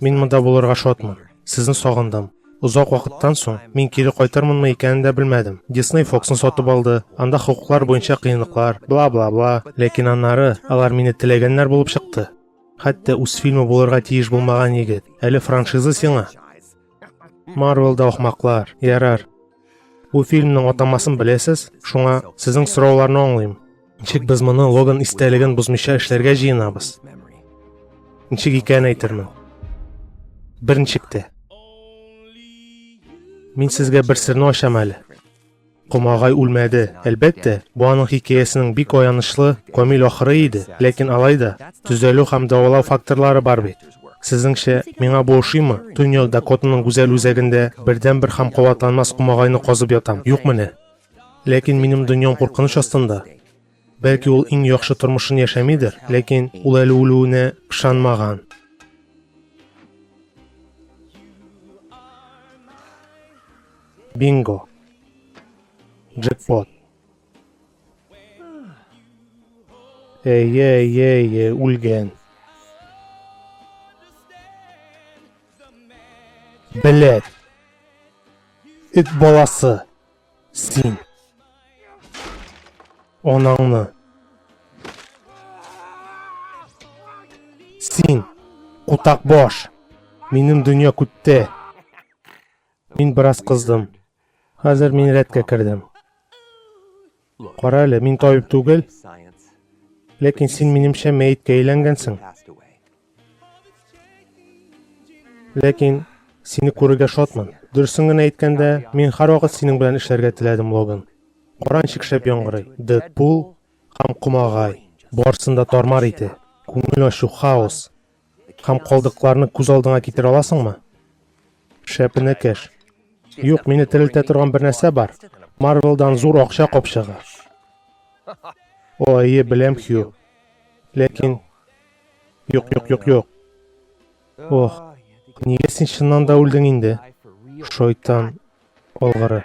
Мин монда булырга шатмын. Сезне сагындым. Озак вакыттан соң мин кире кайтырмынмы икәнен дә белмәдем. Дисней Фоксны сатып алды, анда хокуклар буенча кыенлыклар, бла-бла-бла. Ләкин аннары алар мине теләгәннәр булып чыкты. Хәтта үз фильмы булырга тиеш булмаган егет. Әле франшиза сиңа. Марвел да ахмаклар, ярар. Бу фильмның атамасын беләсез, шуңа сезнең сорауларны аңлыйм. Ничек без моны Логан истәлеген бозмыйча эшләргә җыенабыз? Ничек икән әйтермен. Берничек тә. Мин сезгә бер серне ачам әле. Комагай үлмәде. Әлбәттә, бу аның хикәясенең бик аянычлы, камил ахыры иде, ләкин алай да, төзәлү һәм дәвалау факторлары бар бит. Сезнеңчә, миңа бу ошыймы? Төньяк Дакотаның гүзәл үзәгендә бердәнбер һәм кабатланмас комагайны казып ятам, юк менә! Ләкин минем дөньям куркыныч астында. Бәлки ул иң яхшы тормышын яшәмидер, ләкин ул әле үлүенә ышанмаган. Бинго. Джекпот. Әйе, әйе, әйе, үлгән. Беләт. Эт баласы. Син. Анаңны. Син. Кутак баш. Минем дөнья күтте. Мин бераз кыздым. Хәзер мин рәткә кердем. Кара әле, мин табиб түгел. Ләкин син минемчә мәеткә әйләнгәнсең. Ләкин сине күрергә шатмын. Дөресен генә әйткәндә, мин һәрвакыт синең белән эшләргә теләдем, Логан. Каранчык шәп яңгырый. Дэдпул һәм Комагай. Барсын да тармар ите. Күңел ачу, хаос. Һәм калдыкларны күз алдыңа китерә аласыңмы? Шәп энекәш. Юк, мине терелтә торган бер нәрсә бар. Марвелдан зур акча капчыгы. О, әйе, беләм, Хью. Ләкин... Юк, юк, юк, юк. Ох, нигә син чыннан да үлдең инде? Шайтан алгыры.